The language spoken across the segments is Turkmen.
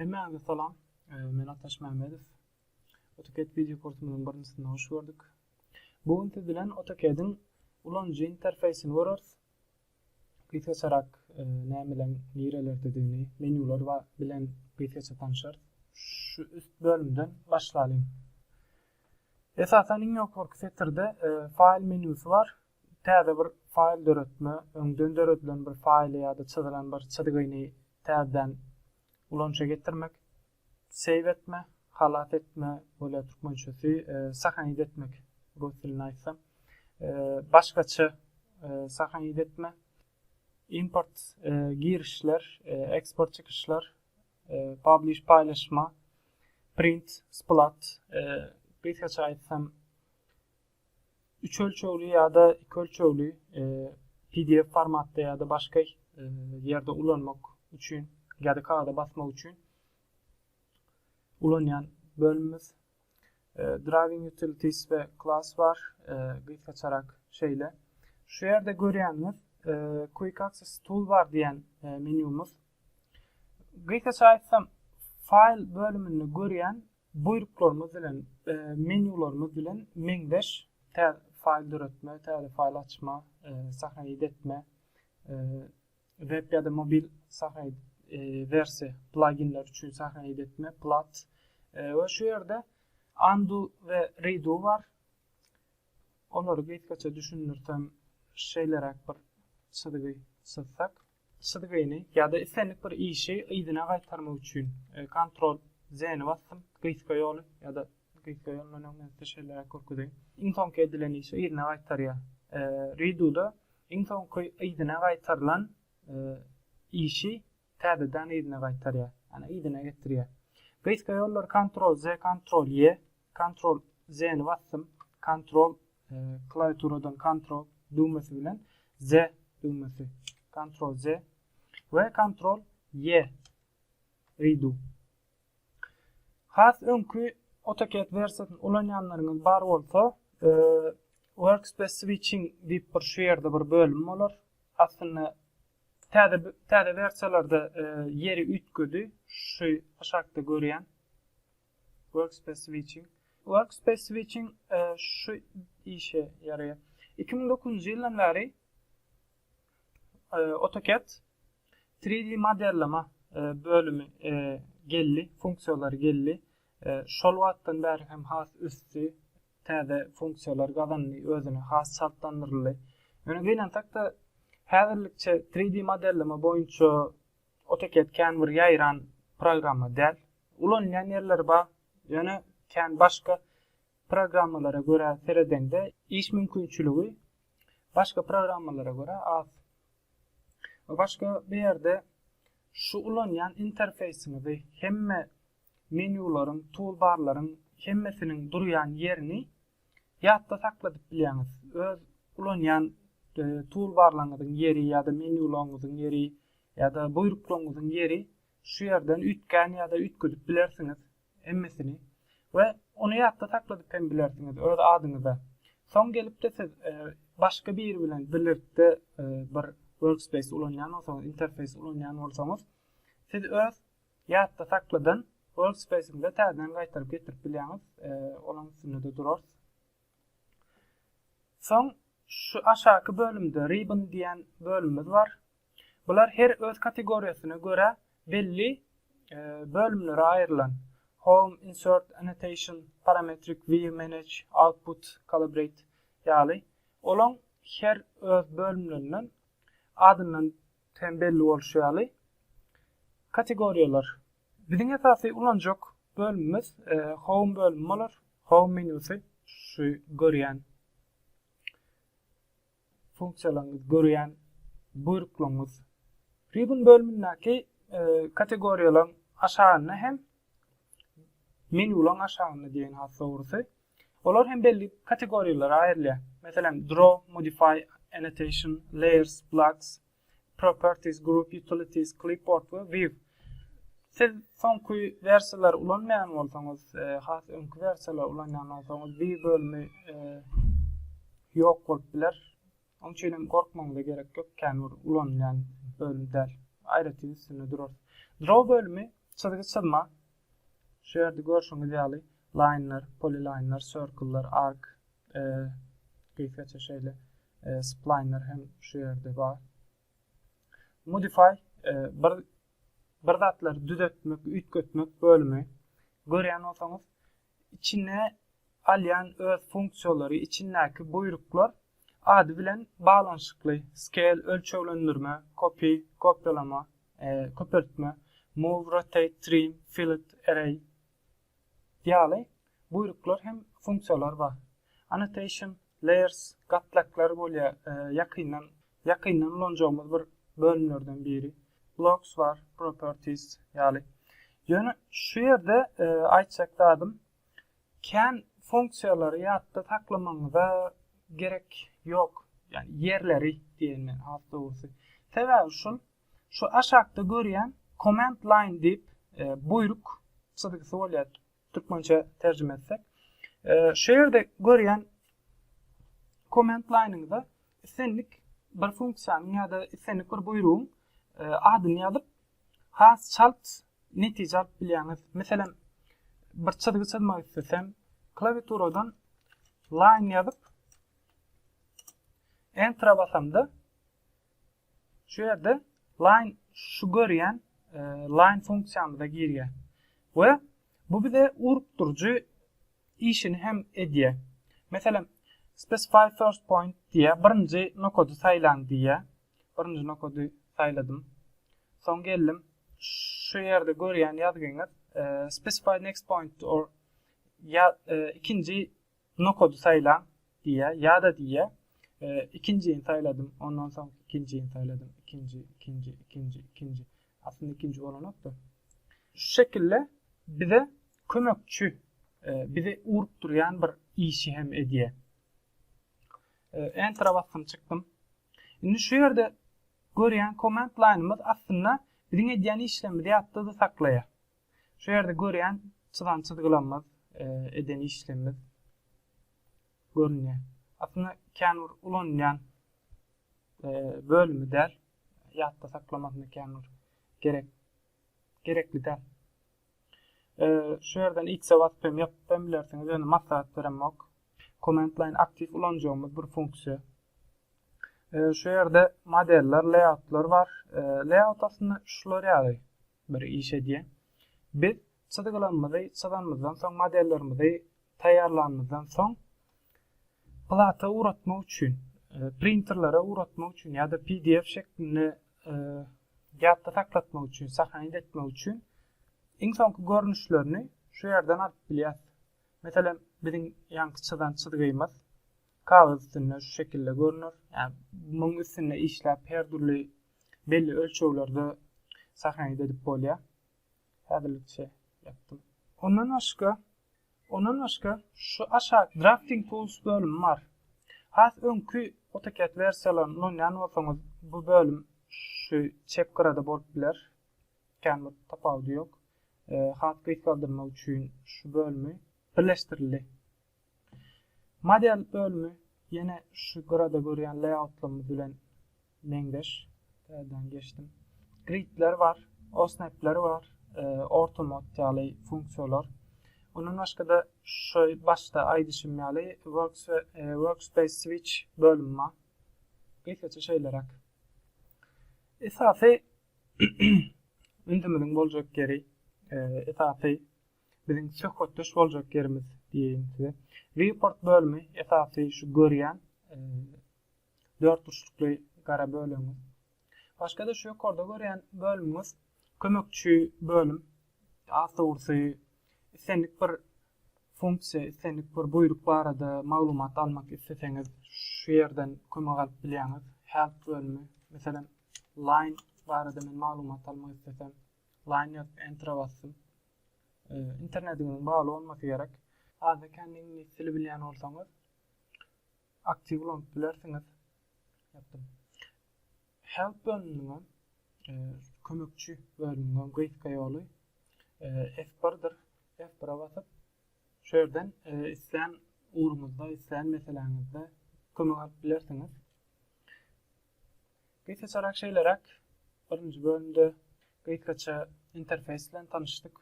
Hemmäňize salam. Men Ataş Mämmedow. AutoCAD video kursumyzyň birinjisine hoş gördük. Bu gün siz bilen AutoCAD-iň ulanyjy interfeýsini göreris. Gysgaçarak e, nämeler nirelerdedigini, menýular bilen gysgaça tanşarys. Şu üst bölümden başlalyň. Esasan iň ýokarky setirde e, faýl menýusy bar. Täze bir faýl döretme, öňden döredilen bir faýly ýa-da çyzylan bir çyzgyny täzeden ulanyşa getirmek, save etme, halas etme, bolýar türkmençesi, sahanit etmek, rus dilinde aýtsam, başgaça sahanit etme, import, girişler, eksport çykyşlar, publish, paýlaşma, print, splat, gysgaça aýtsam, üç ölçegli ýa-da iki ölçegli pdf formatda ýa-da başga ýerde ulanmak üçin ýa-da kagada basmak üçin ulanýan bölümimiz Driving Utilities we Class bar. Gysgaçarak şeýle. Şu ýerde görýäniňiz Quick Access Toolbar diýen menýumyz. Gysgaça aýtsam, faýl bölüminde görýän Buýruklarymyz bilen menýularymyz bilen meňzeş täze faýl döretme, täze faýl açma, sahnaýyt etme, web ýa-da mobil sahnaýyt wersiýa plaginler üçin sahnaýyt etme, plat we şu ýerde undo we redo bar. Olary gysgaça düşündirsem şeýleräk bir çyzgy çyzsak. Çyzgyny ýa-da islendik bir işi yzyna gaýtarmak üçin Ctrl Z-ni basdym, gysga ýoly ýa-da gysga ýol menä men size şeýleräk görkezeýin. Iň soňky edilen işi yzyna gaýtarýar. Redo-da iň soňky yzyna gaýtarylan işi täzeden yzyna gaýtarýar, ýagny yzyna getirýär. Gysga ýollary Ctrl Z, Ctrl Y Ctrl Z ni basdym. Ctrl klawiaturadan Ctrl düwmesi bilen Z düwmesi. Ctrl Z we Ctrl Y redo. Has öňki AutoCAD versiýasyny ulanýanlaryňyz bar bolsa, e, Workspace Switching diýip bir şu ýerde bir bölüm bolar. Aslynda täze täze versiýalarda e, ýeri üýtgedi. Şu aşakda görýän Workspace Switching Workspace Switching şu işe ýaraýar. 2009-njy ýyldan bäri AutoCAD 3D modelleme bölümi geldi, funksiýalary geldi. Şol wagtdan bäri hem has ösdi, täze funksiýalar gazandy, özüne has çaltlandyryldy. Ýöne gynansak-da, häzirlikçe 3D modelleme boýunça AutoCAD kän bir ýaýran programma däl. Ulanylýan ýerleri bar, ýöne kän başga programmalara görä seredeňde iş mümkinçiligi başga programmalara görä az. We başga bu ýerde şu ulanýan interfeýsiňizi hemme menýularyň, toolbarlaryň hemmesiniň durýan ýerini ýatda sakladyp bilýäňiz. Öz ulanýan toolbarlaryňyzyň ýeri ýa-da menýularyňyzyň ýeri Ýa-da buýruklaryňyzyň ýeri şu ýerden üýtgän ýa-da üýtgedip bilersiňiz, emmesini, we ony ýatda sakladyp hem bilersiňiz öz adyňyza. Soň gelip-de siz başga biri bilen birlikde bir workspace ulanýan bolsaňyz, interfeýs ulanýan bolsaňyz, siz öz ýatda sakladan workspace-iňize täzeden gaýtaryp getirip bilýäňiz, olaň üstünde-de durarys. Soň şu aşaky bölümde Ribbon diýen bölümimiz bar. Bular her öz kategoriýasyna görä belli bölümlere aýrylan, Home, Insert, Annotation, Parametric, View, Manage, Output, Calibrate ýaly. Olaň her öz bölümlerinden adyndan hem belli bolşy ýaly kategoriýalar. Biziň esasy ulanjak bölümimiz Home bölümi bolar, Home menýusy şu görýän. funksiýalaryňyzy görýän buýruklaryňyz Ribbon bölümindäki kategoriýalaryň aşagynda hem menýularyň aşagynda diýen has dogrusy olar hem belli kategoriýalara aýrylýar. Meselem, Draw, Modify, Annotation, Layers, Blocks, Properties, Group Utilities, Clipboard we View. Siz soňky wersiýalary ulanmaýan bolsaňyz, has öňki wersiýalary ulanýan bolsaňyz, View bölümi ýok bolup biler. Onuň üçin hem gorkmagyňyza gerek ýok, kän bir ulanylýan bölüm däl. Aýratyn üstünde durarys. Draw bölümi çyzgy çyzma, Şu ýerde görşüňiz ýaly laýnlar, polilaýnlar, sirkler, ark, e, gysgaça şeýle e, splaýnlar hem şu ýerde bar. Modify e, bir bir zatlary düzetmek, üýtgetmek bölümi. Görýän bolsaňyz, içine alýan öz funksiýalary içindäki buýruklar ady bilen baglanyşykly, scale, ölçeglendirme, copy, kopýalama, köpeltme, move, rotate, trim, fillet, array, ýaly buýruklar hem funksiýalar bar. Annotation, layers, gatlaklar bolýar, ýakyndan Ýakyndan ulanjagymyz bir bölümlerden biri Blocks bar, Properties ýaly. Ýöne şu ýerde aýtjak zadym, kän funksiýalary ýatda saklamagyňyza gerek ýok, ýagny ýerleri diýen men has dogrusy. Sebäbi şul, şu aşakda görýän Command Line diýip buýruk çyzgysy bolýar. Türkmençe terjime etsek. Şu ýerde görýän komment laýnyňyza islendik bir funksiýanyň ýa-da islendik bir buýrugyň adyny ýazyp, has çalt netije alyp bilýäňiz. Meselem, bir çyzgy çyzmak islesem, klawiaturadan line ýazyp, enter basamda, Şu ýerde line şu görýän e, line funksiýamyza girýär. We bu bize urup durujy işini hem edýär. Meselem, specify first point diýä, birinji nokady saýlaň diýä. Birinji nokady saýladym. Soň geldim. Şu ýerde görýän ýazgyňyz e, specify next point or ya, e, ikinji Nokady saýlaň diýýär, ýa-da diýýär, ikinjini saýladym, ondan soň ikinjini saýladym, ikinji, ikinji, ikinji, ikinji. Aslynda ikinji bolanok-da. Şu şekilde bize kömekçi, e, bizi urup durýan bir işi hem edýär. E, Enter-a basdym, çykdym. Indi şu ýerde görýän komment laýnymyz aslynda biziň edýän işlerimizi ýatda-da saklaýar. Şu ýerde görýän çyzan çyzgylamyz, eden işlemimiz görünýär. Aslynda kän bir ulanylýan bölümi däl. Ýatda saklamasyna kän bir gerek gerekli däl. Şu ýerden X-e basyp hem ýapyp hem bilersiňiz. Ýöne maslahat beremok. Command line aktiw ulanjagymyz bir funksiýa. Şu ýerde modeller, layoutlar bar. Layout aslynda şular ýaly. bir iş edýär. Biz çyzgylarymyzy çyzanymyzdan soň, modellerimizi taýýarlanymyzdan soň plata ugratmak üçin, printerlere ugratmak üçin ýa-da pdf şeklinde ýatda saklatmak üçin, sahanit etmek üçin iň soňky görnüşlerini şu ýerden alyp bilýäris. Meselem, biziň ýaňky çyzan çyzgymyz kagyz üstünde şu şekilde görner. Ýa muň üstünde işläp her dürli belli ölçeglerde sahnayda edip bolya. Häzirlikçe ýapdym. Ondan başga, ondan başga şu aşak Drafting Tools bölümi bar. Has öňki AutoCAD wersiýalaryny ulanýan bolsaňyz, bu bölüm şu çep gyrada bolup biler. Kän bir tapawudy ýok. Hat gysgaldyrmak üçin şu bölümi birleşdirildi. Model bölümi ýene şu gyrada görýän layoutlarymyz bilen meňzeş. Täzeden geçdim. Gridler bar, osnapler bar, e, ortomod ýaly funksiýalar. Ondan başga-da şu başda aýdyşym ýaly works we e, workspace switch bölümi bar. Gysgaça şeýleräk. Esasy ündümiziň boljak ýeri, e, esasy biziň söhbetdeş boljak ýerimiz diýeýin size. Report bölümi esasy şu görýän e, dört burçlukly gara bölümiz. Başga-da şu ýokarda görýän bölümimiz kömekçi bölüm. Az dogrusy islendik bir funksiýa, islendik bir buýruk barada maglumat almak isleseňiz, şu ýerden kömek alyp bilýäňiz. Help bölümi, meselem, line barada men maglumat almak islesem, line ýazyp enter basdym. Internetiňiziň bagly bolmasy gerek. Azda-kände iňlis dili bilýän bolsaňyz, aktiw ulanyp bilersiňiz. Ýapdym. Help bölüminiň kömekçi bölüminiň gysga ýoly F1-dir. F1-e basyp, şu ýerden islän ugruňyzda, islän meseläňizde kömek alyp bilersiňiz. Gysgaçarak şeýleräk, birinji bölümde gysgaça interfeýs bilen tanyşdyk.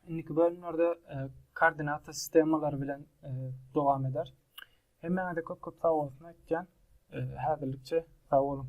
Indiki bölümlerde e, koordinata sistemalary bilen e, dowam eder. Hemmäňize köp-köp sag bolsun aýtýan. E, Häzirlikçe sag boluň.